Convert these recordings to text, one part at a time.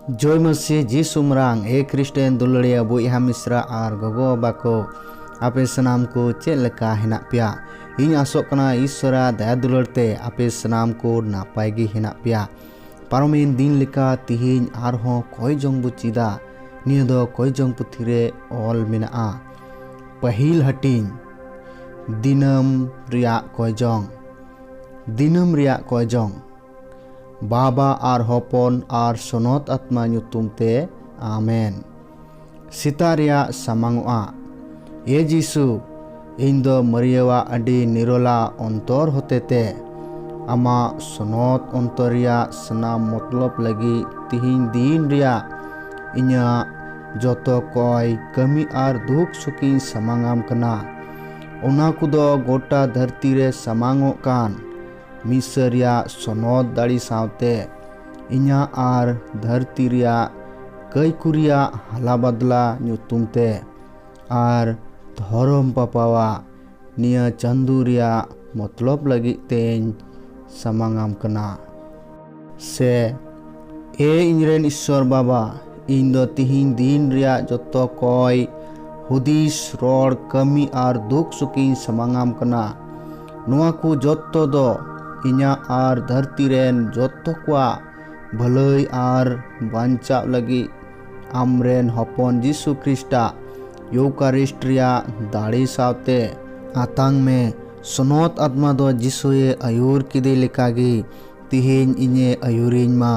ᱡᱚᱭ ᱢᱟᱹᱥᱤ ᱡᱤ ᱥᱩᱢᱨᱟᱝ ᱮ ᱠᱨᱤᱥᱴᱮᱱ ᱫᱩᱞᱟᱹᱲᱤᱭᱟᱹ ᱵᱚᱭᱦᱟ ᱢᱤᱥᱨᱟ ᱟᱨ ᱜᱚᱜᱚ ᱵᱟᱵᱟ ᱠᱚ ᱟᱯᱮ ᱥᱟᱱᱟᱢ ᱠᱚ ᱪᱮᱫ ᱞᱮᱠᱟ ᱦᱮᱱᱟᱜ ᱯᱮᱭᱟ ᱤᱧ ᱟᱥᱚᱜ ᱠᱟᱱᱟ ᱤᱥᱥᱚᱨᱟ ᱫᱟᱭᱟ ᱫᱩᱞᱟᱹᱲ ᱛᱮ ᱟᱯᱮ ᱥᱟᱱᱟᱢ ᱠᱚ ᱱᱟᱯᱟᱭ ᱜᱮ ᱦᱮᱱᱟᱜ ᱯᱮᱭᱟ ᱯᱟᱨᱚᱢᱮᱱ ᱫᱤᱱ ᱞᱮᱠᱟ ᱛᱤᱦᱤᱧ ᱟᱨᱦᱚᱸ ᱠᱚᱭ ᱡᱚᱝ ᱵᱚ ᱪᱮᱫᱟ ᱱᱤᱭᱟᱹ ᱫᱚ ᱠᱚᱭ ᱡᱚᱝ ᱯᱩᱛᱷᱤ ᱨᱮ ᱚᱞ ᱢᱮᱱᱟᱜᱼᱟ ᱯᱟᱹᱦᱤᱞ ᱦᱟᱹᱴᱤᱧ ᱫᱤᱱᱟᱹᱢ ᱨᱮᱭᱟᱜ ᱠᱚᱭ ᱡᱚᱝ ᱫᱤᱱᱟᱹᱢ ᱨᱮᱭᱟᱜ ᱠᱚᱭ ᱡᱚᱝ ᱵᱟᱵᱟ ᱟᱨ ᱦᱚᱯᱚᱱ ᱟᱨ ᱥᱚᱱᱚᱛ ᱟᱛᱢᱟ ᱧᱩᱛᱩᱢ ᱛᱮ ᱟᱢᱮᱱ ᱥᱮᱛᱟ ᱨᱮᱭᱟᱜ ᱥᱟᱢᱟᱝᱚᱜᱼᱟ ᱮ ᱡᱤᱥᱩ ᱤᱧ ᱫᱚ ᱢᱟᱹᱨᱤᱭᱟᱹᱣᱟᱜ ᱟᱹᱰᱤ ᱱᱤᱨᱚᱞᱟ ᱚᱱᱛᱚᱨ ᱦᱚᱛᱮᱛᱮ ᱟᱢᱟᱜ ᱥᱚᱱᱚᱛ ᱚᱱᱛᱚᱨ ᱨᱮᱭᱟᱜ ᱥᱟᱱᱟᱢ ᱢᱚᱛᱞᱚᱵ ᱞᱟᱹᱜᱤᱫ ᱛᱤᱦᱤᱧ ᱫᱤᱱ ᱨᱮᱭᱟᱜ ᱤᱧᱟᱹᱜ ᱡᱚᱛᱚ ᱠᱚᱭ ᱠᱟᱹᱢᱤ ᱟᱨ ᱫᱩᱠ ᱥᱩᱠᱤᱧ ᱥᱟᱢᱟᱝᱟᱢ ᱠᱟᱱᱟ ᱚᱱᱟ ᱠᱚᱫᱚ ᱜᱚᱴᱟ ᱫᱷᱟᱹᱨᱛᱤ ᱨᱮ ᱥᱟᱢᱟᱝᱚᱜ ᱠᱟᱱ ᱢᱤᱥᱨ ᱨᱮᱭᱟᱜ ᱥᱚᱱᱚᱛ ᱫᱟᱲᱮ ᱥᱟᱶᱛᱮ ᱤᱧᱟᱹᱜ ᱟᱨ ᱫᱷᱟᱹᱨᱛᱤ ᱨᱮᱭᱟᱜ ᱠᱟᱹᱭ ᱠᱚ ᱨᱮᱭᱟᱜ ᱦᱟᱞᱟ ᱵᱟᱫᱽᱞᱟ ᱧᱩᱛᱩᱢ ᱛᱮ ᱟᱨ ᱫᱷᱚᱨᱚᱢ ᱯᱟᱯᱟᱣᱟᱜ ᱱᱤᱭᱟᱹ ᱪᱟᱸᱫᱚ ᱨᱮᱭᱟᱜ ᱢᱚᱛᱞᱚᱵ ᱞᱟᱹᱜᱤᱫ ᱛᱮᱧ ᱥᱟᱢᱟᱝ ᱟᱢ ᱠᱟᱱᱟ ᱥᱮ ᱮ ᱤᱧᱨᱮᱱ ᱤᱥᱥᱚᱨ ᱵᱟᱵᱟ ᱤᱧ ᱫᱚ ᱛᱤᱦᱤᱧ ᱫᱤᱱ ᱨᱮᱭᱟᱜ ᱡᱚᱛᱚ ᱠᱚᱭ ᱦᱩᱫᱤᱥ ᱨᱚᱲ ᱠᱟᱹᱢᱤ ᱟᱨ ᱫᱩᱠ ᱥᱩᱠᱤᱧ ᱥᱟᱢᱟᱝᱟᱢ ᱠᱟᱱᱟ ᱱᱚᱣᱟ ᱠᱚ ᱡᱚᱛᱚ ᱫᱚ ᱤᱧᱟᱹᱜ ᱟᱨ ᱫᱷᱟᱹᱨᱛᱤ ᱨᱮᱱ ᱡᱚᱛᱚ ᱠᱚᱣᱟᱜ ᱵᱷᱟᱹᱞᱟᱹᱭ ᱟᱨ ᱵᱟᱧᱪᱟᱜ ᱞᱟᱹᱜᱤᱫ ᱟᱢᱨᱮᱱ ᱦᱚᱯᱚᱱ ᱡᱤᱥᱩ ᱠᱷᱨᱤᱥᱴᱟᱜ ᱭᱩᱠᱟᱨᱤᱥᱴ ᱨᱮᱭᱟᱜ ᱫᱟᱲᱮ ᱥᱟᱶᱛᱮ ᱟᱛᱟᱝ ᱢᱮ ᱥᱚᱱᱚᱛ ᱟᱛᱢᱟ ᱫᱚ ᱡᱤᱥᱩᱭᱮ ᱟᱹᱭᱩᱨ ᱠᱮᱫᱮ ᱞᱮᱠᱟᱜᱮ ᱛᱤᱦᱤᱧ ᱤᱧᱮ ᱟᱹᱭᱩᱨᱤᱧ ᱢᱟ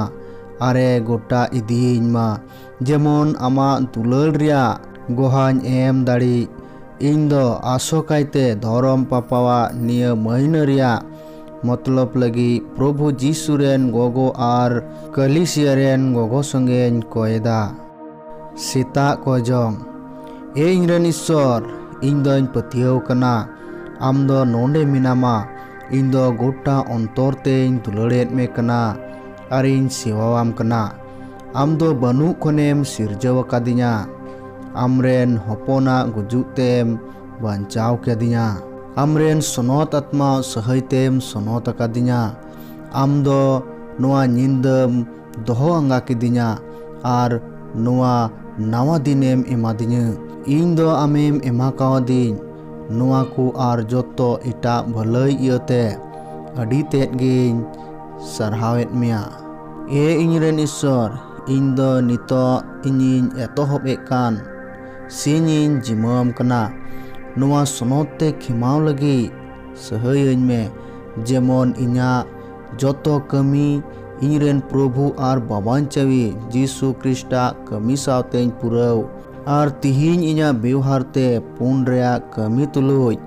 ᱟᱨᱮ ᱜᱚᱴᱟ ᱤᱫᱤᱭᱤᱧ ᱢᱟ ᱡᱮᱢᱚᱱ ᱟᱢᱟᱜ ᱫᱩᱞᱟᱹᱲ ᱨᱮᱭᱟᱜ ᱜᱚᱦᱟᱧ ᱮᱢ ᱫᱟᱲᱮᱜ᱾ ᱤᱧ ᱫᱚ ᱟᱥᱚᱠᱟᱭᱛᱮ ᱫᱷᱚᱨᱚᱢ ᱯᱟᱯᱟᱣᱟᱜ ᱱᱤᱭᱟᱹ ᱢᱟᱹᱦᱱᱟᱹ ᱨᱮᱭᱟᱜ ᱢᱚᱛᱞᱚᱵ ᱞᱟᱹᱜᱤᱫ ᱯᱨᱚᱵᱷᱩ ᱡᱤᱥᱩ ᱨᱮᱱ ᱜᱚᱜᱚ ᱟᱨ ᱠᱟᱹᱞᱤᱥᱤᱭᱟᱹ ᱨᱮᱱ ᱜᱚᱜᱚ ᱥᱚᱸᱜᱮᱧ ᱠᱚᱭᱮᱫᱟ᱾ ᱥᱮᱛᱟᱜ ᱠᱚᱭᱡᱚᱝ, ᱮ ᱤᱧᱨᱮᱱ ᱤᱥᱥᱚᱨ, ᱤᱧ ᱫᱚᱧ ᱯᱟᱹᱛᱭᱟᱹᱣ ᱠᱟᱱᱟ ᱟᱢ ᱫᱚ ᱱᱚᱸᱰᱮ ᱢᱮᱱᱟᱢᱟ᱾ ᱤᱧ ᱫᱚ ᱜᱚᱴᱟ ᱚᱱᱛᱚᱨ ᱛᱮᱧ ᱫᱩᱞᱟᱹᱲᱮᱫ ᱢᱮ ᱠᱟᱱᱟ ᱟᱨ ᱤᱧ ᱥᱮᱣᱟᱣᱟᱢ ᱠᱟᱱᱟ ᱟᱢ ᱫᱚ ᱵᱟᱹᱱᱩᱜ ᱠᱷᱚᱱᱮᱢ ᱥᱤᱨᱡᱟᱹᱣ ᱟᱠᱟᱫᱤᱧᱟ ᱟᱢᱨᱮᱱ ᱦᱚᱯᱚᱱᱟᱜ ᱜᱩᱡᱩᱜ ᱛᱮᱢ ᱵᱟᱧᱪᱟᱣ ᱠᱮᱫᱤᱧᱟ ᱟᱢᱨᱮᱱ ᱥᱚᱱᱚᱛ ᱟᱛᱢᱟ ᱥᱟᱹᱦᱟᱹᱭ ᱛᱮᱢ ᱥᱚᱱᱚᱛ ᱟᱠᱟᱫᱤᱧᱟ ᱟᱢ ᱫᱚ ᱱᱚᱣᱟ ᱧᱤᱫᱟᱹᱢ ᱫᱚᱦᱚ ᱟᱸᱜᱟ ᱠᱤᱫᱤᱧᱟ ᱟᱨ ᱱᱚᱣᱟ ᱱᱟᱣᱟ ᱫᱤᱱᱮᱢ ᱮᱢᱟᱫᱤᱧᱟᱹ ᱤᱧ ᱫᱚ ᱟᱢᱮᱢ ᱮᱢᱟ ᱠᱟᱣᱫᱤᱧ ᱱᱚᱣᱟ ᱠᱚ ᱟᱨ ᱡᱚᱛᱚ ᱮᱴᱟᱜ ᱵᱷᱟᱹᱞᱟᱹᱭ ᱤᱭᱟᱹᱛᱮ ᱟᱹᱰᱤ ᱛᱮᱫ ᱜᱤᱧ ᱥᱟᱨᱦᱟᱣᱮᱫ ᱢᱮᱭᱟ ᱮ ᱤᱧ ᱨᱮᱱ ᱤᱥᱥᱚᱨ ᱤᱧ ᱫᱚ ᱱᱤᱛᱚᱜ ᱤᱧᱤᱧ ᱮᱛᱚᱦᱚᱵ ᱮᱫ ᱠᱟᱱ ᱥᱤᱧ ᱤᱧ ᱡᱤᱢᱟᱹᱣᱟᱢ ᱠᱟᱱᱟ ᱱᱚᱣᱟ ᱥᱚᱱᱚᱛ ᱛᱮ ᱠᱷᱮᱢᱟᱣ ᱞᱟᱹᱜᱤᱫ ᱥᱟᱹᱦᱟᱹᱭᱟᱹᱧ ᱢᱮ ᱡᱮᱢᱚᱱ ᱤᱧᱟᱹᱜ ᱡᱚᱛᱚ ᱠᱟᱹᱢᱤ ᱤᱧ ᱨᱮᱱ ᱯᱨᱚᱵᱷᱩ ᱟᱨ ᱵᱟᱵᱟᱧᱪᱟᱣᱤ ᱡᱤᱥᱩ ᱠᱨᱤᱥᱴᱟᱜ ᱠᱟᱹᱢᱤ ᱥᱟᱶᱛᱮᱧ ᱯᱩᱨᱟᱹᱣ ᱟᱨ ᱛᱤᱦᱤᱧ ᱤᱧᱟᱜ ᱵᱮᱣᱦᱟᱨ ᱛᱮ ᱯᱩᱱ ᱨᱮᱭᱟᱜ ᱠᱟᱹᱢᱤ ᱛᱩᱞᱩᱡ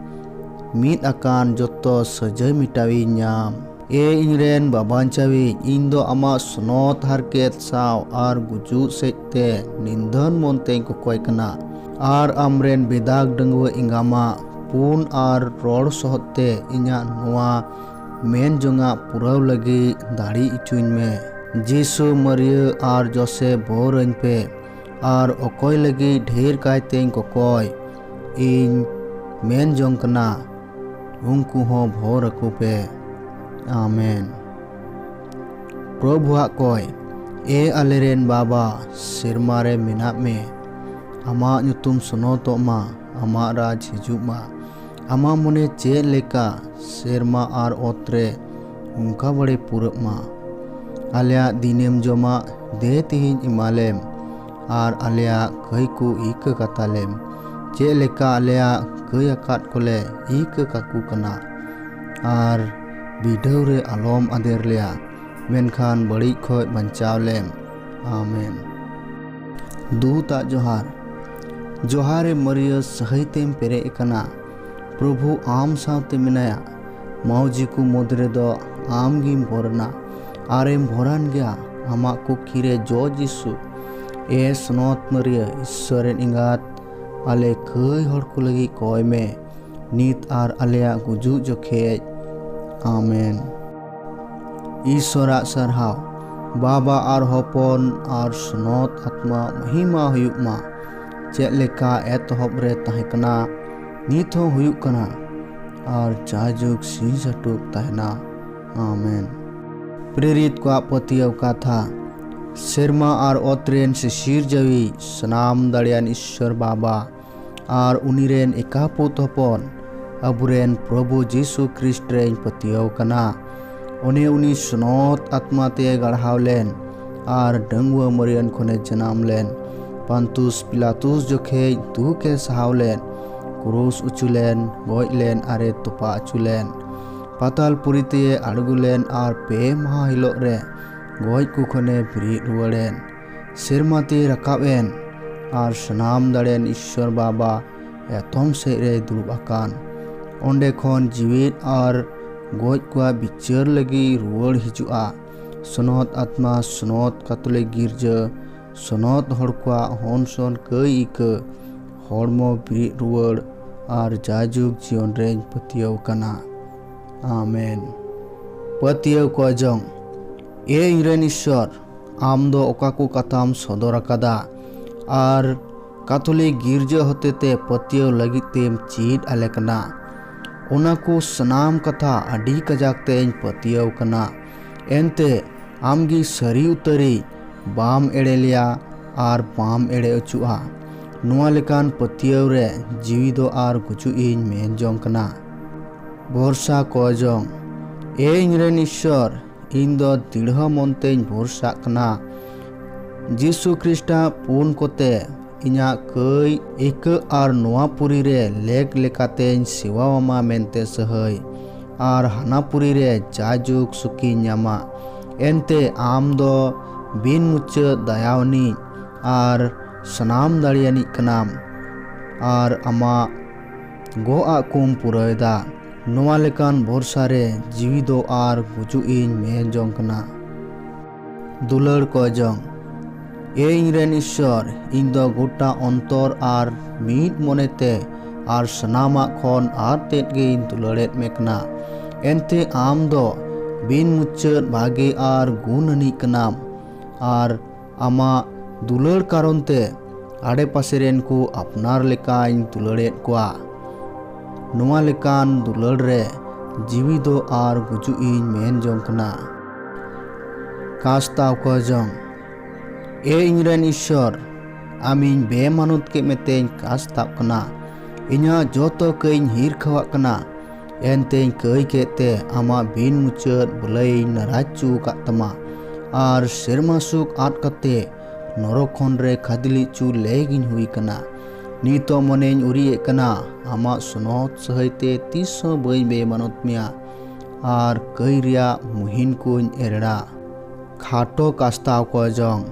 ᱢᱤᱫ ᱟᱠᱟᱱ ᱡᱚᱛᱚ ᱥᱟᱹᱡᱟᱹᱭ ᱢᱮᱴᱟᱣᱤᱧ ᱧᱟᱢ᱾ ᱮ ᱤᱧ ᱨᱮᱱ ᱵᱟᱵᱟᱧᱪᱟᱣᱤᱡ, ᱤᱧ ᱫᱚ ᱟᱢᱟᱜ ᱥᱱᱚᱛ ᱦᱟᱨᱠᱮᱛ ᱥᱟᱶ ᱟᱨ ᱜᱩᱡᱩᱜ ᱥᱮᱡ ᱛᱮ ᱱᱤᱱᱫᱷᱟᱹᱱ ᱢᱚᱱ ᱛᱮᱧ ᱠᱚᱠᱚᱭ ᱠᱟᱱᱟ ᱟᱨ ᱟᱢ ᱨᱮᱱ ᱵᱮᱫᱟᱜᱽ ᱰᱟᱺᱜᱩᱣᱟᱹ ᱮᱸᱜᱟᱢᱟᱜ ᱯᱩᱱ ᱟᱨ ᱨᱚᱲ ᱥᱚᱦᱚᱫ ᱛᱮ ᱤᱧᱟᱜ ᱱᱚᱶᱟ ᱢᱮᱱ ᱡᱚᱝᱟᱜ ᱯᱩᱨᱟᱹᱣ ᱞᱟᱹᱜᱤᱫ ᱫᱟᱲᱮ ᱚᱪᱚᱧ ᱢᱮ ᱡᱤᱥᱩ ᱢᱟᱹᱨᱤᱭᱟᱹ ᱟᱨ ᱡᱚᱥᱮ ᱵᱚᱨ ᱟᱹᱧ ᱯᱮ ᱟᱨ ᱚᱠᱚᱭ ᱞᱟᱹᱜᱤᱫ ᱰᱷᱮᱨ ᱠᱟᱭᱛᱮᱧ ᱠᱚᱠᱚᱭ ᱤᱧ ᱢᱮᱱ ᱡᱚᱝ ᱠᱟᱱᱟ ᱩᱱᱠᱩ ᱦᱚᱸ ᱵᱷᱚᱨ ᱟᱠᱚ ᱯᱮ ᱟᱢᱮᱱ ᱯᱨᱚᱵᱷᱩᱣᱟᱜ ᱠᱚᱭ ᱮ ᱟᱞᱮᱨᱮᱱ ᱵᱟᱵᱟ ᱥᱮᱨᱢᱟ ᱨᱮ ᱢᱮᱱᱟᱜ ᱢᱮ ᱟᱢᱟᱜ ᱧᱩᱛᱩᱢ ᱥᱚᱱᱚᱛᱚᱜ ᱢᱟ ᱟᱢᱟᱜ ᱨᱟᱡᱽ ᱦᱤᱡᱩᱜ ᱢᱟ ᱟᱢᱟᱜ ᱢᱚᱱᱮ ᱪᱮᱫ ᱞᱮᱠᱟ ᱥᱮᱨᱢᱟ ᱟᱨ ᱚᱛ ᱨᱮ ᱚᱱᱠᱟ ᱵᱟᱲᱮ ᱯᱩᱨᱟᱹᱜ ᱢᱟ ᱟᱞᱮᱭᱟᱜ ᱫᱤᱱᱮᱢ ᱡᱚᱢᱟᱜ ᱫᱮ ᱛᱮᱦᱮᱧ ᱮᱢᱟᱞᱮᱢ ᱟᱨ ᱟᱞᱮᱭᱟᱜ ᱠᱟᱹᱭ ᱠᱚ ᱤᱠᱟᱹ ᱠᱟᱛᱟᱞᱮᱢ ᱪᱮᱫ ᱞᱮᱠᱟ ᱟᱞᱮᱭᱟᱜ ᱠᱟᱹᱭ ᱟᱠᱟᱫ ᱠᱚᱞᱮ ᱤᱠᱟᱹ ᱠᱟᱠᱚ ᱠᱟᱱᱟ ᱟᱨ ᱵᱤᱰᱟᱹᱣ ᱨᱮ ᱟᱞᱚᱢ ᱟᱫᱮᱨ ᱞᱮᱭᱟ ᱢᱮᱱᱠᱷᱟᱱ ᱵᱟᱹᱲᱤᱡ ᱠᱷᱚᱱ ᱵᱟᱧᱪᱟᱣ ᱞᱮᱢ ᱟᱢᱮᱱ ᱫᱩᱛᱟᱜ ᱡᱚᱦᱟᱨ ᱡᱚᱦᱟᱨᱮ ᱢᱟᱹᱨᱤᱭᱟᱹ ᱥᱟᱹᱦᱤᱛᱮᱢ ᱯᱮᱨᱮᱡ ᱟᱠᱟᱱᱟ ᱯᱨᱚᱵᱷᱩ ᱟᱢ ᱥᱟᱶᱛᱮ ᱢᱮᱱᱟᱭᱟ ᱢᱟᱹᱣᱡᱤ ᱠᱚ ᱢᱩᱫᱽ ᱨᱮᱫᱚ ᱟᱢ ᱜᱮᱢ ᱵᱚᱨᱱᱟ ᱟᱨᱮᱢ ᱵᱷᱚᱨᱟᱱ ᱜᱮᱭᱟ ᱟᱢᱟᱜ ᱠᱩᱠᱷᱤ ᱨᱮ ᱡᱚ ᱡᱤᱥᱩ ᱮ ᱥᱚᱱᱚᱛ ᱢᱟᱹᱨᱤᱭᱟᱹ ᱤᱥᱥᱚᱨ ᱨᱮᱱ ᱮᱸᱜᱟᱛ ᱟᱞᱮ ᱠᱟᱹᱭ ᱦᱚᱲ ᱠᱚ ᱞᱟᱹᱜᱤᱫ ᱠᱚᱭ ᱢᱮ ᱱᱤᱛ ᱟᱨ ᱟᱞᱮᱭᱟᱜ ᱜᱩᱡᱩᱜ ᱡᱚᱠᱷᱮᱡ ᱟᱢᱮᱱ ᱤᱥᱚᱨᱟᱜ ᱥᱟᱨᱦᱟᱣ ᱵᱟᱵᱟ ᱟᱨ ᱦᱚᱯᱚᱱ ᱟᱨ ᱥᱱᱚᱛ ᱟᱛᱢᱟ ᱢᱚᱦᱤᱢᱟ ᱦᱩᱭᱩᱜ ᱢᱟ ᱪᱮᱫ ᱞᱮᱠᱟ ᱮᱛᱚᱦᱚᱵ ᱨᱮ ᱛᱟᱦᱮᱸ ᱠᱟᱱᱟ ᱱᱤᱛ ᱦᱚᱸ ᱦᱩᱭᱩᱜ ᱠᱟᱱᱟ ᱟᱨ ᱡᱟᱭᱡᱩᱜᱽ ᱥᱤᱧ ᱥᱟᱹᱴᱩᱠ ᱛᱟᱦᱮᱱᱟ ᱟᱢᱮᱱ ᱯᱨᱮᱨᱤᱛ ᱠᱚᱣᱟᱜ ᱯᱟᱹᱛᱭᱟᱹᱣ ᱠᱟᱛᱷᱟ ᱥᱮᱨᱢᱟ ᱟᱨ ᱚᱛ ᱨᱮᱱ ᱥᱤᱥᱤᱨᱡᱟᱹᱣᱤᱡ ᱥᱟᱱᱟᱢ ᱫᱟᱲᱮᱭᱟᱱ ᱤᱥᱥᱚᱨ ᱵᱟᱵᱟ ᱟᱨ ᱩᱱᱤ ᱨᱮᱱ ᱮᱠᱟᱯᱩᱛ ᱦᱚᱯᱚᱱ ᱟᱵᱚᱨᱮᱱ ᱯᱨᱚᱵᱷᱩ ᱡᱤᱥᱩ ᱠᱷᱨᱤᱥᱴ ᱨᱮᱧ ᱯᱟᱹᱛᱭᱟᱹᱣ ᱠᱟᱱᱟ ᱚᱱᱮ ᱩᱱᱤ ᱥᱚᱱᱚᱛ ᱟᱛᱢᱟ ᱛᱮ ᱜᱟᱲᱦᱟᱣ ᱞᱮᱱ ᱟᱨ ᱰᱟᱹᱝᱣᱟᱹ ᱢᱟᱹᱨᱤᱭᱟᱹᱱ ᱠᱷᱚᱱᱮ ᱡᱟᱱᱟᱢ ᱞᱮᱱ ᱯᱟᱱᱛᱩᱥ ᱯᱤᱞᱟᱛᱩᱥ ᱡᱚᱠᱷᱮᱡ ᱫᱩᱠ ᱮ ᱥᱟᱦᱟᱣ ᱞᱮᱱ ᱠᱩᱨᱩᱥ ᱩᱪᱩ ᱞᱮᱱ ᱜᱚᱡ ᱞᱮᱱ ᱟᱨᱮ ᱛᱚᱯᱟ ᱚᱪᱚ ᱞᱮᱱ ᱯᱟᱛᱟᱞ ᱯᱩᱨᱤ ᱛᱮ ᱟᱬᱜᱚ ᱞᱮᱱ ᱟᱨ ᱯᱮ ᱢᱟᱦᱟ ᱦᱤᱞᱳᱜ ᱨᱮ ᱜᱚᱡ ᱠᱚ ᱠᱷᱚᱱᱮ ᱵᱮᱨᱮᱫ ᱨᱩᱣᱟᱹᱲᱮᱱ ᱥᱮᱨᱢᱟ ᱛᱮ ᱨᱟᱠᱟᱵ ᱮᱱ ᱟᱨ ᱥᱟᱱᱟᱢ ᱫᱟᱲᱮᱱ ᱤᱥᱥᱚᱨ ᱵᱟᱵᱟ ᱮᱛᱚᱢ ᱥᱮᱫ ᱨᱮ ᱫᱩᱲᱩᱵ ᱟᱠᱟᱱ ᱚᱸᱰᱮ ᱠᱷᱚᱱ ᱡᱤᱣᱮᱫ ᱟᱨ ᱜᱚᱡ ᱠᱚᱣᱟᱜ ᱵᱤᱪᱟᱹᱨ ᱞᱟᱹᱜᱤᱫ ᱨᱩᱣᱟᱹᱲ ᱦᱤᱡᱩᱜᱼᱟ ᱥᱚᱱᱚᱛ ᱟᱛᱢᱟ ᱥᱚᱱᱚᱛ ᱠᱟᱛᱚᱞᱤᱠ ᱜᱤᱨᱡᱟᱹ ᱥᱚᱱᱚᱛ ᱦᱚᱲ ᱠᱚᱣᱟᱜ ᱦᱚᱱ ᱥᱚᱱ ᱠᱟᱹᱭ ᱤᱠᱟᱹ ᱦᱚᱲᱢᱚ ᱵᱤᱨᱤᱫ ᱨᱩᱣᱟᱹᱲ ᱟᱨ ᱡᱟᱭᱡᱩᱜᱽ ᱡᱤᱭᱚᱱ ᱨᱮᱧ ᱯᱟᱹᱛᱭᱟᱹᱣ ᱠᱟᱱᱟ ᱟᱢᱮᱱ ᱯᱟᱹᱛᱭᱟᱹᱣ ᱠᱚ ᱡᱚᱝ ᱮ ᱤᱧᱨᱮᱱ ᱤᱥᱥᱚᱨ ᱟᱢ ᱫᱚ ᱚᱠᱟ ᱠᱚ ᱠᱟᱛᱷᱟᱢ ᱥᱚᱫᱚᱨ ᱟᱠᱟᱫᱟ ᱟᱨ ᱠᱟᱛᱷᱚᱞᱤᱠ ᱜᱤᱨᱡᱟᱹ ᱦᱚᱛᱮᱛᱮ ᱯᱟᱹᱛᱭᱟᱹᱣ ᱞᱟᱹᱜᱤᱫ ᱛᱮᱢ ᱪᱮᱫ ᱟᱞᱮ ᱠᱟᱱᱟ ᱚᱱᱟ ᱠᱚ ᱥᱟᱱᱟᱢ ᱠᱟᱛᱷᱟ ᱟᱹᱰᱤ ᱠᱟᱡᱟᱠ ᱛᱮᱧ ᱯᱟᱹᱛᱭᱟᱹᱣ ᱠᱟᱱᱟ ᱮᱱᱛᱮ ᱟᱢᱜᱮ ᱥᱟᱹᱨᱤ ᱩᱛᱟᱹᱨᱤᱡ ᱵᱟᱢ ᱮᱲᱮ ᱞᱮᱭᱟ ᱟᱨ ᱵᱟᱢ ᱮᱲᱮ ᱚᱪᱚᱜᱼᱟ ᱱᱚᱣᱟ ᱞᱮᱠᱟᱱ ᱯᱟᱹᱛᱭᱟᱹᱣ ᱨᱮ ᱡᱤᱣᱤ ᱫᱚ ᱟᱨ ᱜᱩᱡᱩᱜ ᱤᱧ ᱢᱮᱱ ᱡᱚᱝ ᱠᱟᱱᱟ ᱵᱷᱚᱨᱥᱟ ᱠᱚᱭ ᱡᱚᱝ ᱮ ᱤᱧᱨᱮᱱ ᱤᱥᱥᱚᱨ ᱤᱧ ᱫᱚ ᱫᱤᱲᱦᱚ ᱢᱚᱱᱛᱮᱧ ᱵᱷᱚᱨᱥᱟᱜ ᱠᱟᱱᱟ ᱡᱤᱥᱩ ᱠᱷᱨᱤᱥᱴᱟ ᱯᱩᱱ ᱠᱚᱛᱮ ᱤᱧᱟᱹᱜ ᱠᱟᱹᱭ ᱤᱠᱟᱹ ᱟᱨ ᱱᱚᱣᱟ ᱯᱩᱨᱤ ᱨᱮ ᱞᱮᱠ ᱞᱮᱠᱟᱛᱮᱧ ᱥᱮᱣᱟ ᱟᱢᱟ ᱢᱮᱱᱛᱮ ᱥᱟᱹᱦᱟᱹᱭ ᱟᱨ ᱦᱟᱱᱟ ᱯᱩᱨᱤ ᱨᱮ ᱡᱟᱭᱡᱩᱜᱽ ᱥᱩᱠᱤᱧ ᱧᱟᱢᱟ ᱮᱱᱛᱮ ᱟᱢ ᱫᱚ ᱵᱤᱱ ᱢᱩᱪᱟᱹᱫ ᱫᱟᱭᱟᱣᱟᱱᱤᱡ ᱟᱨ ᱥᱟᱱᱟᱢ ᱫᱟᱲᱮᱭᱟᱱᱤᱡ ᱠᱟᱱᱟᱢ ᱟᱨ ᱟᱢᱟᱜ ᱜᱚᱜ ᱟᱜ ᱠᱚᱢ ᱯᱩᱨᱟᱹᱣᱮᱫᱟ ᱱᱚᱣᱟ ᱞᱮᱠᱟᱱ ᱵᱷᱚᱨᱥᱟ ᱨᱮ ᱡᱤᱣᱤ ᱫᱚ ᱟᱨ ᱜᱩᱡᱩᱜ ᱤᱧ ᱢᱮᱱ ᱡᱚᱝ ᱠᱟᱱᱟ ᱫᱩᱞᱟᱹᱲ ᱠᱚᱭ ᱡᱚᱝ ᱮ ᱤᱧ ᱨᱮᱱ ᱤᱥᱥᱚᱨ ᱤᱧ ᱫᱚ ᱜᱚᱴᱟ ᱚᱱᱛᱚᱨ ᱟᱨ ᱢᱤᱫ ᱢᱚᱱᱮ ᱛᱮ ᱟᱨ ᱥᱟᱱᱟᱢᱟᱜ ᱠᱷᱚᱱ ᱟᱨ ᱛᱮᱫ ᱜᱮᱧ ᱫᱩᱞᱟᱹᱲᱮᱫ ᱢᱮ ᱠᱟᱱᱟ ᱮᱱᱛᱮ ᱟᱢ ᱫᱚ ᱵᱤᱱ ᱢᱩᱪᱟᱹᱫ ᱵᱷᱟᱜᱮ ᱟᱨ ᱜᱩᱱ ᱟᱹᱱᱤᱡ ᱠᱟᱱᱟᱢ ᱟᱨ ᱟᱢᱟᱜ ᱫᱩᱞᱟᱹᱲ ᱠᱟᱨᱚᱱ ᱛᱮ ᱟᱰᱮᱯᱟᱥᱮ ᱨᱮᱱ ᱠᱚ ᱟᱯᱱᱟᱨ ᱞᱮᱠᱟᱧ ᱫᱩᱞᱟᱹᱲᱮᱫ ᱠᱚᱣᱟ ᱱᱚᱣᱟ ᱞᱮᱠᱟᱱ ᱫᱩᱞᱟᱹᱲ ᱨᱮ ᱡᱤᱣᱤ ᱫᱚ ᱟᱨ ᱜᱩᱡᱩᱜ ᱤᱧ ᱢᱮᱱ ᱡᱚᱝ ᱠᱟᱱᱟ ᱠᱟᱥᱛᱟᱣ ᱠᱚ ᱡᱚᱝ ᱮ ᱤᱧ ᱨᱮᱱ ᱤᱥᱥᱚᱨ ᱟᱢ ᱤᱧ ᱵᱮᱢᱟᱱᱚᱛ ᱠᱮᱫ ᱢᱮᱛᱮᱧ ᱠᱟᱥᱛᱟᱜ ᱠᱟᱱᱟ ᱤᱧᱟᱹᱜ ᱡᱚᱛᱚ ᱠᱟᱹᱭᱤᱧ ᱦᱤᱨᱠᱷᱟᱹᱣᱟᱜ ᱠᱟᱱᱟ ᱮᱱᱛᱮᱧ ᱠᱟᱹᱭ ᱠᱮᱫ ᱛᱮ ᱟᱢᱟᱜ ᱵᱤᱱ ᱢᱩᱪᱟᱹᱫ ᱵᱚᱞᱟᱭᱤᱧ ᱱᱟᱨᱟᱡ ᱪᱚ ᱟᱠᱟᱫ ᱛᱟᱢᱟ ᱟᱨ ᱥᱮᱨᱢᱟ ᱥᱩᱠ ᱟᱫ ᱠᱟᱛᱮ ᱱᱚᱨᱚᱠ ᱠᱷᱚᱱ ᱨᱮ ᱠᱷᱟᱫᱽᱞᱤ ᱪᱚ ᱞᱮᱜᱤᱧ ᱦᱩᱭ ᱠᱟᱱᱟ ᱱᱤᱛᱚᱜ ᱢᱚᱱᱮᱧ ᱩᱨᱤᱭᱮᱫ ᱠᱟᱱᱟ ᱟᱢᱟᱜ ᱥᱚᱱᱚᱦᱚᱛ ᱥᱟᱹᱦᱟᱹᱭ ᱛᱮ ᱛᱤᱥ ᱦᱚᱸ ᱵᱟᱹᱧ ᱵᱮᱢᱟᱱᱚᱛ ᱢᱮᱭᱟ ᱟᱨ ᱠᱟᱹᱭ ᱨᱮᱭᱟᱜ ᱢᱩᱦᱤᱱ ᱠᱚᱧ ᱮᱨᱮᱲᱟ ᱠᱷᱟᱴᱚ ᱠᱟᱥᱛᱟᱣ ᱠᱚ ᱡᱚᱝ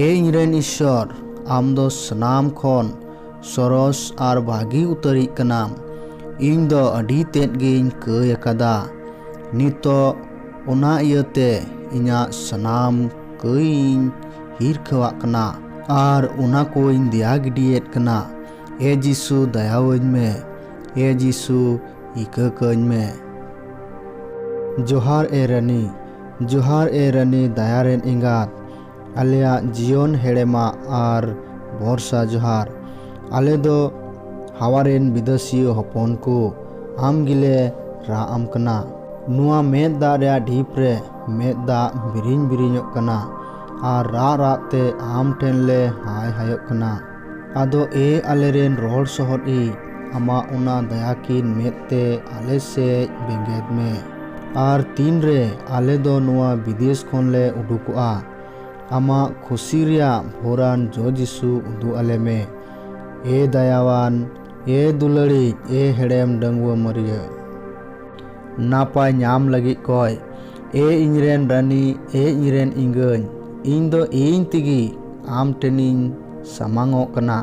ᱮ ᱤᱧ ᱨᱮᱱ ᱤᱥᱥᱚᱨ ᱟᱢ ᱫᱚ ᱥᱟᱱᱟᱢ ᱠᱷᱚᱱ ᱥᱚᱨᱚᱥ ᱟᱨ ᱵᱷᱟᱹᱜᱤ ᱩᱛᱟᱹᱨᱤᱡ ᱠᱟᱱᱟᱢ ᱤᱧ ᱫᱚ ᱟᱹᱰᱤ ᱛᱮᱫ ᱜᱤᱧ ᱠᱟᱹᱭ ᱟᱠᱟᱫᱟ ᱱᱤᱛᱚᱜ ᱚᱱᱟ ᱤᱭᱟᱹᱛᱮ ᱤᱧᱟᱹᱜ ᱥᱟᱱᱟᱢ ᱠᱟᱹᱭ ᱤᱧ ᱦᱤᱨᱠᱷᱟᱹᱣᱟᱜ ᱠᱟᱱᱟ ᱟᱨ ᱚᱱᱟ ᱠᱚᱧ ᱫᱮᱭᱟ ᱜᱤᱰᱤᱭᱮᱫ ᱠᱟᱱᱟ ᱮ ᱡᱤᱥᱩ ᱫᱟᱭᱟᱣᱟᱹᱧ ᱢᱮ ᱮ ᱡᱤᱥᱩ ᱤᱠᱟᱹ ᱠᱟᱹᱧ ᱢᱮ ᱡᱚᱦᱟᱨ ᱮ ᱨᱟᱹᱱᱤ ᱡᱚᱦᱟᱨ ᱮ ᱨᱟᱹᱱᱤ ᱫᱟᱭᱟ ᱨᱮᱱ ᱮᱸᱜᱟᱛ ᱟᱞᱮᱭᱟᱜ ᱡᱤᱭᱚᱱ ᱦᱮᱲᱮᱢᱟᱜ ᱟᱨ ᱵᱷᱚᱨᱥᱟ ᱡᱚᱦᱟᱨ᱾ ᱟᱞᱮ ᱫᱚ ᱦᱟᱣᱟ ᱨᱮᱱ ᱵᱤᱫᱟᱹᱥᱤᱭᱟᱹ ᱦᱚᱯᱚᱱ ᱠᱚ ᱟᱢ ᱜᱮᱞᱮ ᱨᱟᱜ ᱟᱢ ᱠᱟᱱᱟ᱾ ᱱᱚᱣᱟ ᱢᱮᱫ ᱫᱟᱜ ᱨᱮᱭᱟᱜ ᱰᱷᱤᱯ ᱨᱮ ᱢᱮᱫ ᱫᱟᱜ ᱵᱤᱨᱤᱧ ᱵᱤᱨᱤᱧᱚᱜ ᱠᱟᱱᱟ ᱟᱨ ᱨᱟᱜ ᱨᱟᱜ ᱛᱮ ᱟᱢ ᱴᱷᱮᱱ ᱞᱮ ᱦᱟᱭ ᱦᱟᱭᱚᱜ ᱠᱟᱱᱟ᱾ ᱟᱫᱚ ᱮ ᱟᱞᱮ ᱨᱮᱱ ᱨᱚᱦᱚᱲ ᱥᱚᱦᱚᱫ ᱤᱡ, ᱟᱢᱟᱜ ᱚᱱᱟ ᱫᱟᱭᱟ ᱠᱤᱱ ᱢᱮᱫ ᱛᱮ ᱟᱞᱮ ᱥᱮᱡ ᱵᱮᱸᱜᱮᱫ ᱢᱮ᱾ ᱟᱨ ᱛᱤᱱ ᱨᱮ ᱟᱞᱮ ᱫᱚ ᱱᱚᱣᱟ ᱵᱤᱫᱮᱥ ᱠᱷᱚᱱ ᱞᱮ ᱩᱰᱩᱠᱚᱜᱼᱟ, ᱟᱢᱟᱜ ᱠᱷᱩᱥᱤ ᱨᱮᱭᱟᱜ ᱵᱷᱳᱨᱟᱱ ᱡᱚ ᱡᱤᱥᱩ ᱩᱫᱩᱜ ᱟᱞᱮ ᱢᱮ᱾ ᱮ ᱫᱟᱭᱟᱣᱟᱱ, ᱮ ᱫᱩᱞᱟᱹᱲᱤᱡ, ᱮ ᱦᱮᱲᱮᱢ ᱰᱟᱺᱜᱩᱣᱟᱹ ᱢᱟᱹᱨᱭᱟᱹ᱾ ᱱᱟᱯᱟᱭ ᱧᱟᱢ ᱞᱟᱹᱜᱤᱫ ᱠᱚᱭ ᱮ ᱤᱧᱨᱮᱱ ᱨᱟᱹᱱᱤ ᱮ ᱤᱧᱨᱮᱱ ᱤᱝᱜᱟᱹᱧ ᱤᱧ ᱫᱚ ᱤᱧ ᱛᱮᱜᱮ ᱟᱢ ᱴᱷᱮᱱᱤᱧ ᱥᱟᱢᱟᱝᱚᱜ ᱠᱟᱱᱟ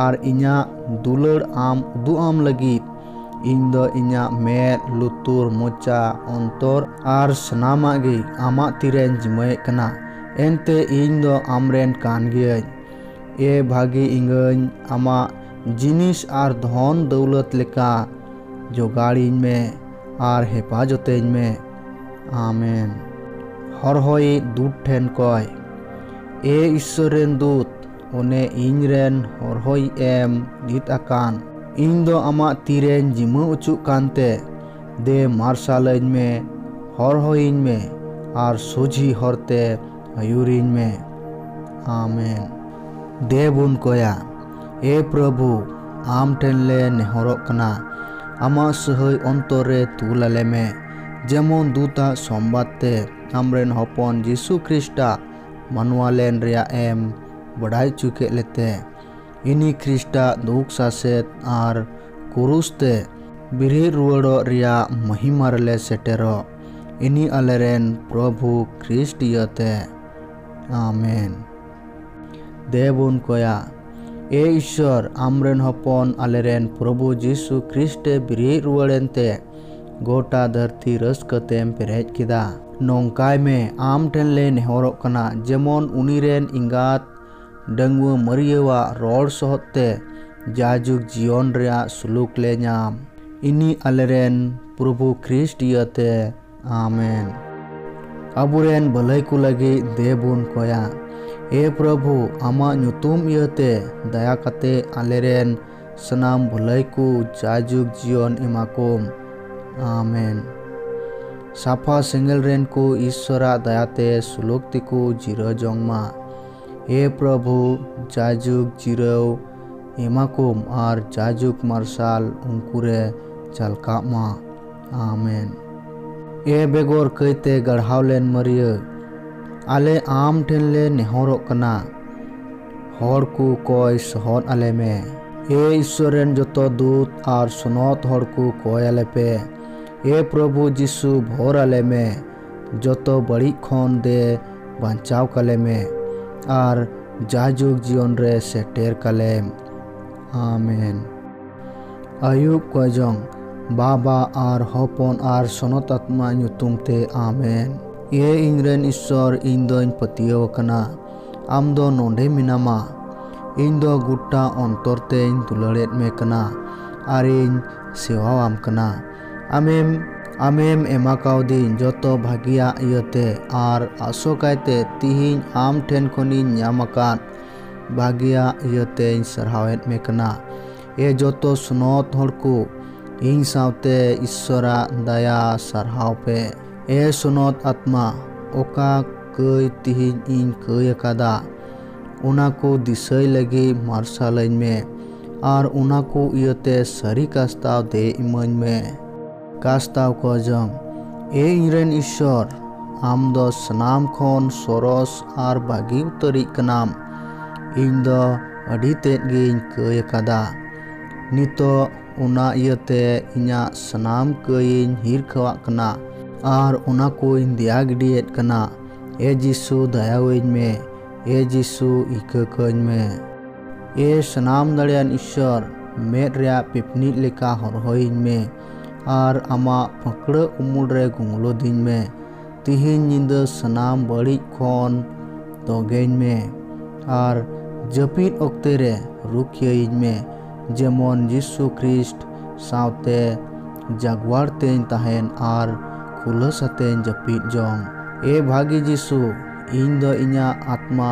ᱟᱨ ᱤᱧᱟᱹᱜ ᱫᱩᱞᱟᱹᱲ ᱟᱢ ᱩᱫᱩᱜ ᱟᱢ ᱞᱟᱹᱜᱤᱫ ᱤᱧ ᱫᱚ ᱤᱧᱟᱹᱜ ᱢᱮᱫ ᱞᱩᱛᱩᱨ ᱢᱚᱪᱟ ᱚᱱᱛᱚᱨ ᱟᱨ ᱥᱟᱱᱟᱢᱟᱜ ᱜᱮ ᱟᱢᱟᱜ ᱛᱤᱨᱮᱧ ᱡᱤᱢᱟᱹᱭᱮᱫ ᱠᱟᱱᱟ ᱮᱱᱛᱮ ᱤᱧ ᱫᱚ ᱟᱢᱨᱮᱱ ᱠᱟᱱ ᱜᱤᱭᱟᱹᱧ ᱮ ᱵᱷᱟᱹᱜᱤ ᱤᱝᱜᱟᱹᱧ ᱟᱢᱟᱜ ᱡᱤᱱᱤᱥ ᱟᱨ ᱫᱷᱚᱱ ᱫᱟᱹᱣᱞᱟᱹᱛ ᱞᱮᱠᱟ ᱡᱚᱜᱟᱲᱤᱧ ᱢᱮ ᱟᱨ ᱦᱮᱯᱟᱡᱚᱛᱮᱧ ᱢᱮ ᱟᱢᱮᱱ ᱦᱚᱨᱦᱚᱭᱤᱡ ᱫᱩᱛ ᱴᱷᱮᱱ ᱠᱚᱭ ᱮ ᱤᱥᱥᱚᱨ ᱨᱮᱱ ᱫᱩᱛ ᱚᱱᱮ ᱤᱧ ᱨᱮᱱ ᱦᱚᱨᱦᱚᱭᱤᱡ ᱮᱢ ᱱᱤᱛ ᱟᱠᱟᱱ ᱤᱧ ᱫᱚ ᱟᱢᱟᱜ ᱛᱤᱨᱮᱧ ᱡᱤᱢᱟᱹ ᱚᱪᱩᱜ ᱠᱟᱱᱛᱮ ᱫᱮ ᱢᱟᱨᱥᱟᱞ ᱟᱹᱧ ᱢᱮ ᱦᱚᱨᱦᱚᱭᱤᱧ ᱢᱮ ᱟᱨ ᱥᱚᱡᱷᱤ ᱦᱚᱨᱛᱮ ᱟᱹᱭᱩᱨᱤᱧ ᱢᱮ ᱟᱢᱮᱱ ᱫᱮ ᱵᱚᱱ ᱠᱚᱭᱟ ᱮ ᱯᱨᱚᱵᱷᱩ ᱟᱢ ᱴᱷᱮᱱ ᱞᱮ ᱱᱮᱦᱚᱨᱚᱜ ᱠᱟᱱᱟ ᱟᱢᱟᱜ ᱥᱟᱹᱦᱟᱹᱭ ᱚᱱᱛᱚᱨ ᱨᱮ ᱛᱩᱞ ᱟᱞᱮ ᱢᱮ ᱡᱮᱢᱚᱱ ᱫᱩᱛᱟᱜ ᱥᱚᱢᱵᱟᱫ ᱛᱮ ᱟᱢᱨᱮᱱ ᱦᱚᱯᱚᱱ ᱡᱤᱥᱩ ᱠᱷᱨᱤᱥᱴᱟᱜ ᱢᱟᱱᱣᱟ ᱞᱮᱱ ᱨᱮᱭᱟᱜ ᱮᱢ ᱵᱟᱰᱟᱭ ᱦᱚᱪᱚ ᱠᱮᱫ ᱞᱮᱛᱮ ᱤᱱᱤ ᱠᱷᱨᱤᱥᱴᱟᱜ ᱫᱩᱠ ᱥᱟᱥᱮᱛ ᱟᱨ ᱠᱩᱨᱩᱥ ᱛᱮ ᱵᱮᱨᱮᱫ ᱨᱩᱣᱟᱹᱲᱚᱜ ᱨᱮᱭᱟᱜ ᱢᱚᱦᱤᱢᱟ ᱨᱮᱞᱮ ᱥᱮᱴᱮᱨᱚᱜ ᱤᱱᱤ ᱟᱞᱮᱨᱮᱱ ᱯᱨᱚᱵᱷᱩ ᱠᱷᱨᱤᱥᱴ ᱤᱭᱟᱹᱛᱮ ᱟᱢᱮᱱ ᱫᱮᱵᱚᱱ ᱠᱚᱭᱟ᱾ ᱮ ᱤᱥᱥᱚᱨ, ᱟᱢᱨᱮᱱ ᱦᱚᱯᱚᱱ ᱟᱞᱮᱨᱮᱱ ᱯᱨᱚᱵᱷᱩ ᱡᱤᱥᱩ ᱠᱷᱨᱤᱥᱴ ᱮ ᱵᱤᱨᱤᱫ ᱨᱩᱣᱟᱹᱲ ᱮᱱᱛᱮ ᱜᱚᱴᱟ ᱫᱷᱟᱹᱨᱛᱤ ᱨᱟᱹᱥᱠᱟᱹ ᱛᱮᱢ ᱯᱮᱨᱮᱡ ᱠᱮᱫᱟ᱾ ᱱᱚᱝᱠᱟᱭ ᱢᱮ, ᱟᱢ ᱴᱷᱮᱱ ᱞᱮ ᱱᱮᱦᱚᱨᱚᱜ ᱠᱟᱱᱟ ᱡᱮᱢᱚᱱ ᱩᱱᱤ ᱨᱮᱱ ᱮᱸᱜᱟᱛ ᱰᱟᱺᱜᱩᱣᱟᱹ ᱢᱟᱹᱨᱤᱭᱟᱹᱣᱟᱜ ᱨᱚᱲ ᱥᱚᱦᱚᱫ ᱛᱮ ᱡᱟᱭᱡᱩᱜᱽ ᱡᱤᱭᱚᱱ ᱨᱮᱭᱟᱜ ᱥᱩᱞᱩᱠ ᱞᱮ ᱧᱟᱢ᱾ ᱤᱱᱤ ᱟᱞᱮᱨᱮᱱ ᱯᱨᱚᱵᱷᱩ ᱠᱷᱨᱤᱥᱴ ᱤᱭᱟᱹᱛᱮ᱾ ᱟᱢᱮᱱ ᱟᱵᱚᱨᱮᱱ ᱵᱷᱟᱹᱞᱟᱹᱭ ᱠᱚ ᱞᱟᱹᱜᱤᱫ ᱫᱮᱵᱚᱱ ᱠᱚᱭᱟ ᱮ ᱯᱨᱚᱵᱷᱩ ᱟᱢᱟᱜ ᱧᱩᱛᱩᱢ ᱤᱭᱟᱹᱛᱮ ᱫᱟᱭᱟ ᱠᱟᱛᱮ ᱟᱞᱮᱨᱮᱱ ᱥᱟᱱᱟᱢ ᱵᱷᱟᱹᱞᱟᱹᱭ ᱠᱚ ᱡᱟᱭᱡᱩᱜᱽ ᱡᱤᱭᱚᱱ ᱮᱢᱟ ᱠᱚᱢ ᱟᱢᱮᱱ ᱥᱟᱯᱷᱟ ᱥᱮᱸᱜᱮᱞ ᱨᱮᱱ ᱠᱚ ᱤᱥᱥᱚᱨᱟᱜ ᱫᱟᱭᱟᱛᱮ ᱥᱩᱞᱩᱠ ᱛᱮᱠᱚ ᱡᱤᱨᱟᱹ ᱡᱚᱝ ᱢᱟ ᱮ ᱯᱨᱚᱵᱷᱩ ᱡᱟᱭᱡᱩᱜᱽ ᱡᱤᱨᱟᱹᱣ ᱮᱢᱟ ᱠᱚᱢ ᱟᱨ ᱡᱟᱭᱡᱩᱜᱽ ᱢᱟᱨᱥᱟᱞ ᱩᱱᱠᱩ ᱨᱮ ᱡᱷᱟᱞᱠᱟᱜ ᱢᱟ ᱟᱢᱮᱱ ᱮ ᱵᱮᱜᱚᱨ ᱠᱟᱹᱭᱛᱮ ᱜᱟᱲᱦᱟᱣ ᱞᱮᱱ ᱢᱟᱹᱨᱤᱭᱟᱹ ᱟᱞᱮ ᱟᱢ ᱴᱷᱮᱱ ᱞᱮ ᱱᱮᱦᱚᱨᱚᱜ ᱠᱟᱱᱟ ᱦᱚᱲ ᱠᱚ ᱠᱚᱭ ᱥᱚᱦᱚᱫ ᱟᱞᱮ ᱢᱮ ᱮ ᱤᱥᱥᱚᱨ ᱨᱮᱱ ᱡᱚᱛᱚ ᱫᱩᱛ ᱟᱨ ᱥᱚᱱᱚᱛ ᱦᱚᱲ ᱠᱚ ᱠᱚᱭ ᱟᱞᱮ ᱯᱮ ᱮ ᱯᱨᱚᱵᱷᱩ ᱡᱤᱥᱩ ᱵᱷᱚᱨ ᱟᱞᱮ ᱢᱮ ᱡᱚᱛᱚ ᱵᱟᱹᱲᱤᱡ ᱠᱷᱚᱱ ᱫᱮ ᱵᱟᱧᱪᱟᱣ ᱠᱟᱞᱮ ᱢᱮ ᱟᱨ ᱡᱟᱭᱡᱩᱜᱽ ᱡᱤᱭᱚᱱ ᱨᱮ ᱥᱮᱴᱮᱨ ᱠᱟᱞᱮᱢ ᱟᱢᱮᱱ ᱟᱭᱩᱵ ᱠᱚᱡᱚᱝ ᱵᱟᱵᱟ ᱟᱨ ᱦᱚᱯᱚᱱ ᱟᱨ ᱥᱚᱱᱚᱛᱟᱛᱢᱟ ᱧᱩᱛᱩᱢ ᱛᱮ ᱟᱢᱮᱱ᱾ ᱮ ᱤᱧᱨᱮᱱ ᱤᱥᱥᱚᱨ ᱤᱧ ᱫᱚᱧ ᱯᱟᱹᱛᱭᱟᱹᱣ ᱟᱠᱟᱱᱟ ᱟᱢ ᱫᱚ ᱱᱚᱸᱰᱮ ᱢᱮᱱᱟᱢᱟ ᱤᱧ ᱫᱚ ᱜᱩᱴᱴᱟ ᱚᱱᱛᱚᱨ ᱛᱮᱧ ᱫᱩᱞᱟᱹᱲᱮᱫ ᱢᱮ ᱠᱟᱱᱟ ᱟᱨᱤᱧ ᱥᱮᱣᱟᱣᱟᱢ ᱠᱟᱱᱟ ᱟᱢᱮᱢ ᱟᱢᱮᱢ ᱮᱢᱟᱠᱟᱣᱫᱤᱧ ᱡᱚᱛᱚ ᱵᱷᱟᱹᱜᱤᱭᱟᱜ ᱤᱭᱟᱹᱛᱮ ᱟᱨ ᱟᱥᱚᱠᱟᱭᱛᱮ ᱛᱤᱦᱤᱧ ᱟᱢ ᱴᱷᱮᱱ ᱠᱷᱚᱱᱤᱧ ᱧᱟᱢ ᱟᱠᱟᱫ ᱵᱷᱟᱜᱮᱭᱟᱜ ᱤᱭᱟᱹᱛᱮᱧ ᱥᱟᱨᱦᱟᱣᱮᱫ ᱢᱮ ᱠᱟᱱᱟ ᱮ ᱡᱚᱛᱚ ᱥᱱᱚᱛ ᱦᱚᱲ ᱠᱚ ᱤᱧ ᱥᱟᱶᱛᱮ ᱤᱥᱥᱚᱨᱟᱜ ᱫᱟᱭᱟ ᱥᱟᱨᱦᱟᱣ ᱯᱮ ᱮ ᱥᱱᱚᱛ ᱟᱛᱢᱟ ᱚᱠᱟ ᱠᱟᱹᱭ ᱛᱤᱦᱤᱧ ᱤᱧ ᱠᱟᱹᱭ ᱟᱠᱟᱫᱟ ᱚᱱᱟ ᱠᱚ ᱫᱤᱥᱟᱹᱭ ᱞᱟᱹᱜᱤᱫ ᱢᱟᱨᱥᱟᱞᱟᱹᱧ ᱢᱮ ᱟᱨ ᱚᱱᱟ ᱠᱚ ᱤᱭᱟᱹᱛᱮ ᱥᱟᱹᱨᱤ ᱠᱟᱥᱛᱟᱣ ᱫᱮᱡ ᱤᱢᱟᱹᱧ ᱢᱮ ᱠᱟᱥᱛᱟᱣ ᱠᱚ ᱡᱚᱝ ᱮ ᱤᱧ ᱨᱮᱱ ᱤᱥᱥᱚᱨ ᱟᱢ ᱫᱚ ᱥᱟᱱᱟᱢ ᱠᱷᱚᱱ ᱥᱚᱨᱚᱥ ᱟᱨ ᱵᱷᱟᱹᱜᱤ ᱩᱛᱟᱹᱨᱤᱡ ᱠᱟᱱᱟᱢ ᱤᱧ ᱫᱚ ᱟᱹᱰᱤ ᱛᱮᱫ ᱜᱤᱧ ᱠᱟᱹᱭ ᱟᱠᱟᱫᱟ ᱱᱤᱛᱚᱜ ᱚᱱᱟ ᱤᱭᱟᱹᱛᱮ ᱤᱧᱟᱹᱜ ᱥᱟᱱᱟᱢ ᱠᱟᱹᱭᱤᱧ ᱦᱤᱨᱠᱷᱟᱹᱣᱟᱜ ᱠᱟᱱᱟ ᱟᱨ ᱚᱱᱟ ᱠᱚᱧ ᱫᱮᱭᱟ ᱜᱤᱰᱤᱭᱮᱫ ᱠᱟᱱᱟ ᱮ ᱡᱤᱥᱩ ᱫᱟᱭᱟᱣᱟᱹᱧ ᱢᱮ ᱮ ᱡᱤᱥᱩ ᱤᱠᱟᱹ ᱠᱟᱹᱧ ᱢᱮ᱾ ᱮ ᱥᱟᱱᱟᱢ ᱫᱟᱲᱮᱭᱟᱱ ᱤᱥᱥᱚᱨ ᱢᱮᱫ ᱨᱮᱭᱟᱜ ᱯᱤᱯᱱᱤᱡ ᱞᱮᱠᱟ ᱦᱚᱨᱦᱚᱭᱤᱧ ᱢᱮ ᱟᱨ ᱟᱢᱟᱜ ᱯᱷᱟᱹᱠᱲᱟᱹ ᱩᱢᱩᱞ ᱨᱮ ᱜᱩᱝᱞᱚ ᱫᱤᱧ ᱢᱮ ᱛᱤᱦᱤᱧ ᱧᱤᱫᱟᱹ ᱥᱟᱱᱟᱢ ᱵᱟᱹᱲᱤᱡ ᱠᱷᱚᱱ ᱛᱚᱜᱮᱧ ᱢᱮ ᱟᱨ ᱡᱟᱹᱯᱤᱫ ᱚᱠᱛᱮ ᱨᱮ ᱨᱩᱠᱷᱤᱭᱟᱹᱭᱤᱧ ᱢᱮ ᱡᱮᱢᱚᱱ ᱡᱤᱥᱩ ᱠᱷᱨᱤᱥᱴ ᱥᱟᱶᱛᱮ ᱡᱟᱜᱽᱣᱟᱨ ᱛᱮᱧ ᱛᱟᱦᱮᱱ ᱟᱨ ᱠᱷᱩᱞᱟᱹᱥ ᱟᱛᱮᱧ ᱡᱟᱹᱯᱤᱫ ᱡᱚᱝ ᱮ ᱵᱷᱟᱹᱜᱤ ᱡᱤᱥᱩ ᱤᱧ ᱫᱚ ᱤᱧᱟᱹᱜ ᱟᱛᱢᱟ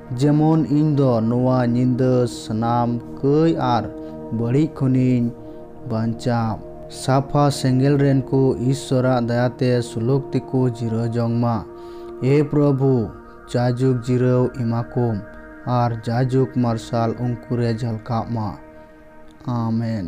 ᱡᱮᱢᱚᱱ ᱤᱧ ᱫᱚ ᱱᱚᱣᱟ ᱧᱤᱫᱟᱹ ᱥᱟᱱᱟᱢ ᱠᱟᱹᱭ ᱟᱨ ᱵᱟᱹᱲᱤᱡ ᱠᱷᱚᱱᱤᱧ ᱵᱟᱧᱪᱟᱜ᱾ ᱥᱟᱯᱷᱟ ᱥᱮᱸᱜᱮᱞ ᱨᱮᱱ ᱠᱚ ᱤᱥᱥᱚᱨᱟᱜ ᱫᱟᱭᱟ ᱛᱮ ᱥᱩᱞᱩᱠ ᱛᱮᱠᱚ ᱡᱤᱨᱟᱹᱣ ᱡᱚᱝ ᱢᱟ᱾ ᱮ ᱯᱨᱚᱵᱷᱩ, ᱡᱟᱭᱡᱩᱜᱽ ᱡᱤᱨᱟᱹᱣ ᱮᱢᱟ ᱠᱚᱢ ᱟᱨ ᱡᱟᱭᱡᱩᱜᱽ ᱢᱟᱨᱥᱟᱞ ᱩᱱᱠᱩ ᱨᱮ ᱡᱷᱟᱞᱠᱟᱜ ᱢᱟ᱾ ᱟᱢᱮᱱ᱾